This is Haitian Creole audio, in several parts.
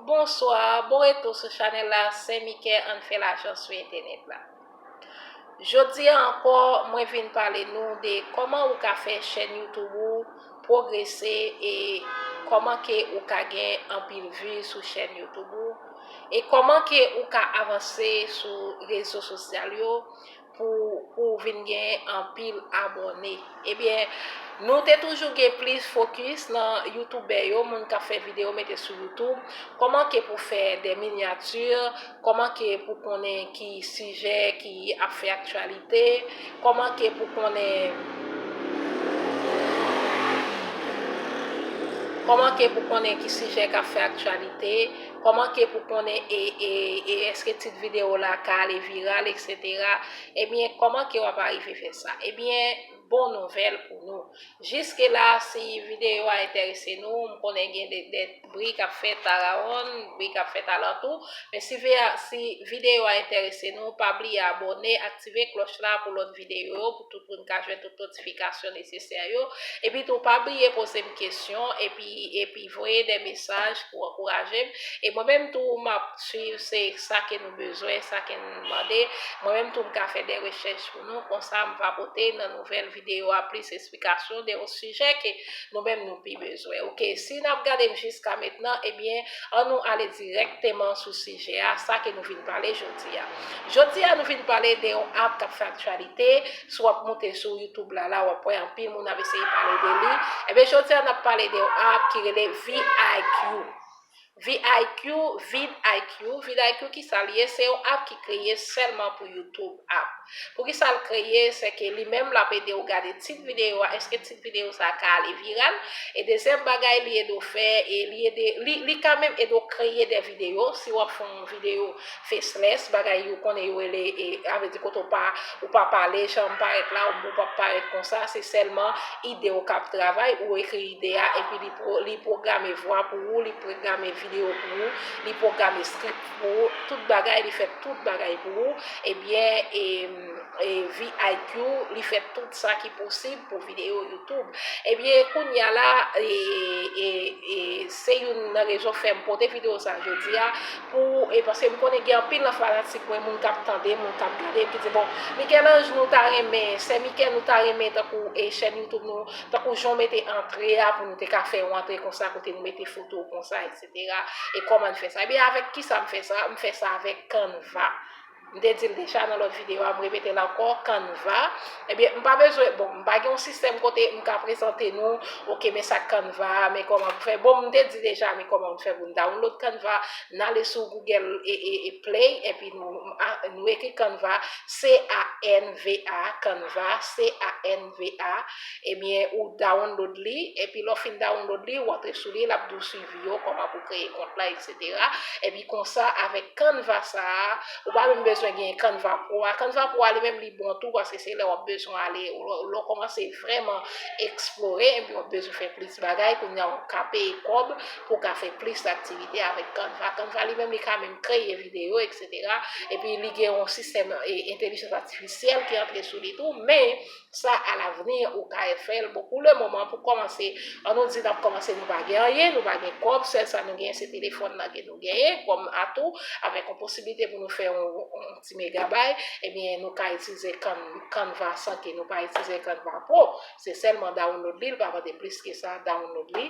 Bonswa, bon retou sou chanèl la sè Mike ann fè lajan sou entènèt la. Jodi a ankò mwen vin pale nou de kòman ou ka fè chèn youtube ou pwogrese e kòman ke ou ka gen anpil vi sou chèn youtube ou e kòman ke ou ka avanse sou rezo sosyal yo pou ou vin gen anpil abòne ebyen nou te toujou gen plis fokis nan youtoubè yo moun kap fè video mete sou youtoub kòman ke pou fè de minyati kòman ke pou konnen ki sijè ki ap fè aktyalite kòman ke pou konnen ki sijè kap fè aktyalite. Koman ke pou konnen e eske tit video la ka ale viral etc. Ebyen koman ke wap arive fè sa. Ebyen bon nouvel pou nou. Jiske la si video a enterese nou, m konnen gen de bri kap fèt arawonn, bri kap fèt alantou, men si video a enterese nou, pa bliye abone, aktive kloch la pou lot video yo. tout moun ka jwenn tout notifikasyon nesesè yo, epi tou pa bliye poze m kesyon epi epi voye de mesaj pou ankouraje m, e mwen menm tou m ap swiv se sa ke nou bezwen, sa ke nou mande, mwen menm tou m ka fè de rechèch pou nou, konsa m va pote nan nouvèl videyo a plis esplikasyon de yon sijè ke nou menm nou pi bezwen ok, si n ap gade m jiska mentnan ebyen. An nou ale dirèkteman sou sijè a, sa ke nou vin pale jodi a. Jodi a nou vin pale de yon app kap fè aktyalite, si wap moute sou YouTube la la wap wè anpil moun ap eseye pale de li. Ebyen jodi a nap pale de yon app ki rele VIQ. VIQ, Vid IQ, Vid IQ kisa li ye? Se yon app ki kreye sèlman pou YouTube app. Poukisa l kreye, se ke li menm l ap ede w gade tit videyo a, èske tit videyo sa a ka ale viral, e dezyèm bagay li ede w fè, li ka menm ede w kreye de videyo, si w ap fè yon videyo faceless, bagay yo konnen yo rele, sa vle di kote w pa, ou pa pale, jan w parèt la, ou pa parèt konsa, se sèlman ide w k ap travay, ou ekri ide a, epi li pwograme vwa pou ou, li pwograme videyo pou ou, li pwograme script pou ou, tout bagay li fèt. tout bagay pou ou ebyen VIQ li fè tout sa ki posib pou video YouTube ebyen kounya la se youn nan rezon fèm pote video sa jodia pou paske m konnen gen anpil nan fanatik mwen moun kap tande moun kap gade ki di bon Michel-Ange nou ta renmen sè Michel nou ta renmen tankou chèn YouTube nou tankou jan w mete antre a pou nou te ka fè yon antre konsa kote nou mete foto w konsa etc. e kòman n fè sa. Ebyen avèk kisa m fè sa, m fè sa avèk Canva. M te di l deja nan lòt videyo a, m repete l ankò, Canva, ebyen m pa bezwen, bon m pa gen yon sistèm kote m ka prezante nou, ok men sa Canva, men kòman pou fè, bon m te di deja men kòman pou fè pou n download Canva, n ale sou Google play epi nou ekri Canva, C-A-N-V-A, Canva, C-A-N. MVA ebyen ou download li epi lè w fin download li ou antre sou li lap di w swivi yo kòman pou kreye kont la etc epi konsa avèk canva sa ou pa menm bezwen gen canva pro a canva pro a li menm li bon tou paske se lè wap bezwen ale lè w kòmanse vrèman eksplore epi wap bezwen fè plis bagay kounya ou ka peye kòb pou w ka fè plis aktivite avèk canva canva li menm li ka menm kreye videyo etc. eksetera, epi li gen yon sistèm entelijan atifisyèl ki antre sou li tou, men sa a lavni ou ka fè l, bon pou le moman pou kòmanse, an nou di n ap kòmanse nou pa gen anyen, nou pa gen kòb, sèl sa nou genyen se telefòn nan ke nou genyen kòm atou, avèk yon posiblite pou nou fè yon ti megabay, ebyen nou ka itilize Canva san ke nou pa itilize Canva Pro, se sèlman download li, li pa mande plis ke sa, download li.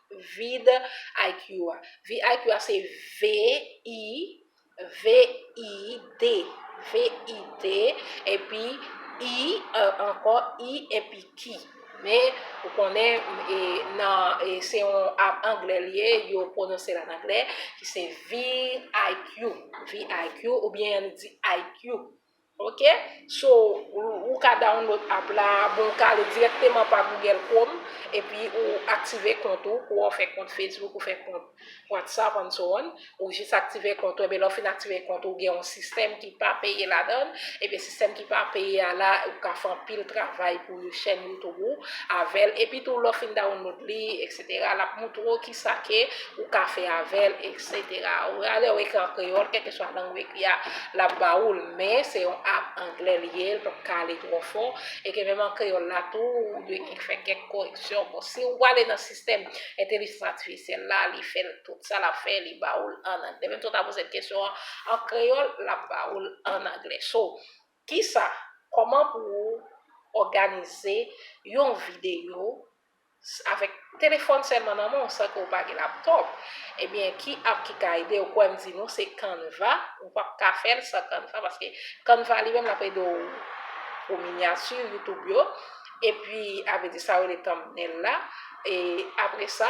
vide IQ a. Vide IQ a se V-I-V-I-D. V-I-D, epi I ankò, I epi Q. Men, ou konnen, se yon anglè li ye, yo pwononse l an anglè, ki se vide IQ. Vide IQ, oubyen nou di IQ. Ok so ou ka download app la bon ou ka ale direkteman pa Google Chrome epi ou aktive kont ou kou wè ou fè kont Facebook ou fè kont WhatsApp and so on ou jis aktive kont ou ebyen lè ou fin aktive kont ou ou gen yon sistèm ki pa peye ladann ebyen sistèm ki pa peye a la ou ka fè anpil travay pou chèn YouTube ou avèl epi tou lè ou fin download li etc. Lap moutre w kisa ke ou ka fè avè l etc. Ou rale ou ekri an kreyòl kèlke swa lang ou ekri a lap ba ou l men se yon app anglè li ye l pap ka ale twò fò e ke menm an kreyòl la tou ou dwe gen fè kèk koreksyon bon si ou ale nan sistèm entelijans atifisyèl la li fè l tout sa lap fè li ba ou l an anglè menm si ou ta poze l kesyon an an kreyòl lap ba ou l an anglè so kisa kòman pou ou òganize yon videyo Avèk telefòn sèlman nan men w san ke w pa gen laptop ebyen ki app ki ka ede w kwè m di nou se canva ou pap ka fè l san canva paske canva li menm lap ede w pou miniature youtube yo epi avedi sa yo rele thumbnail la e apresa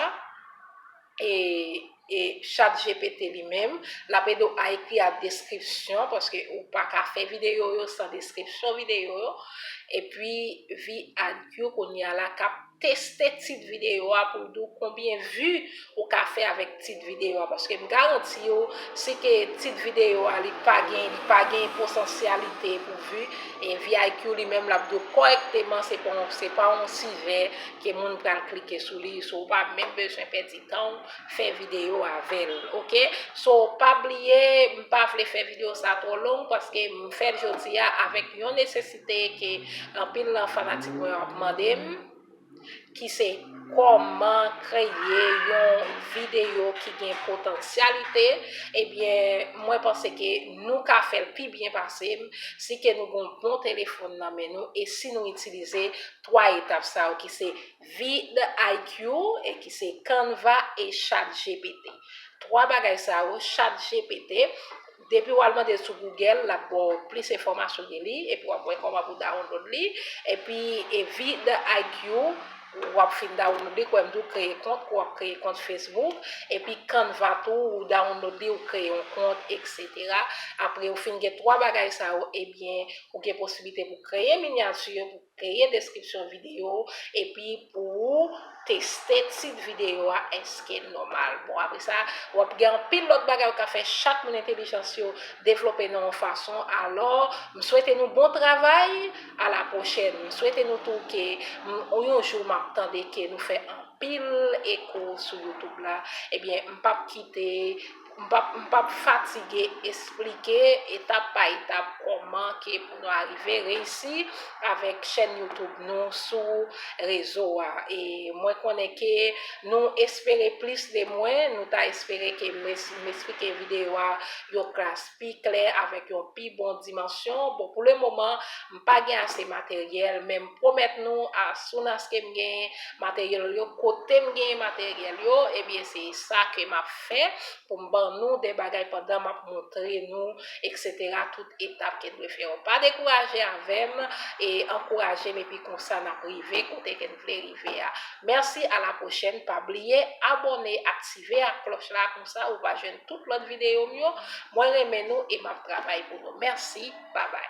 E chat GPT li menm, l ap ede w a ekri ak deskripsyon, paske ou pa ka fè videyo yo san deskripsyon videyo yo. Epi VidIQ kounye a la k ap teste tit videyo a pou l di w konbyen vi ou ka fè avèk tit videyo a. Paske m garanti w, si ke tit videyo a li pa gen, li pa gen potansyalite pou vi, e VidIQ li menm l ap di w kòrèkteman se pa yon sijè. Ke moun pral klike sou li so ou pa menm bezwen pèdi tan ou fè video avèl ok so pa bliye m pa vle fè video sa twò long paske m fèl jodi a avèk yon nesesite ke anpil nan fanatik mwen yo ap mande m ki se kòman kreye yon video ki gen potansyalite ebyen mwen panse ke nou ka fèl pi byen pase m si ke nou gon bon telefòn nan men nou e si nou itilize 3 etap sa yo ki se vidIQ e ki se Canva e chatgpt. 3 bagay sa yo chatgpt depi wal mandel sou Google lap baw plis enfòmasyon de li epi wap wè kòman pou download li epi vidIQ wap fin download li kwèm di ou kreye kont kou wap kreye kont Facebook epi Canva tou ou download li ou kreye yon kont etc apre ou fin gen 3 bagay sa yo ebyen ou gen posiblite pou kreye minyati. Kreye deskripsyon videyo ou epi pou ou teste tit videyo a eske l nòmal. Bon apre sa, w ap gen anpil lòt bagay ou ka fè chak moun entelijans yo devlope nan yon fason. Alò, m swete nou bon travay, a la pwochèn. M swete nou tou ke yon jou m ap tande ke nou fè anpil eko sou youtube la, ebyen m p ap kite. M pap fatige esplike etap pa etap kòman ke pou nou arive reyisi avèk chèn YouTube nou sou rezo a. E mwen konnen ke nou espere plis de mwen, nou ta espere ke m esplike videyo a yon klas pi klè avèk yon pi bon dimansyon bon pou le moman m pa gen ase materyèl men m pwomèt nou as soon as ke m gen materyèl yo kote m gen materyèl yo ebyen se sa ke m ap fè pou m ban nou de bagay pandan m ap montre nou etc tout etap ke n dwe fè yo pa dekouraje avè m e ankouraje m epi konsa n ap rive kote ke n vle rive a merci a la prochèn pa bliye abòne aktive ak klòch la konsa ou va jwenn tout lòt videyo m yo mwen renmen nou e map travay pou nou merci babay.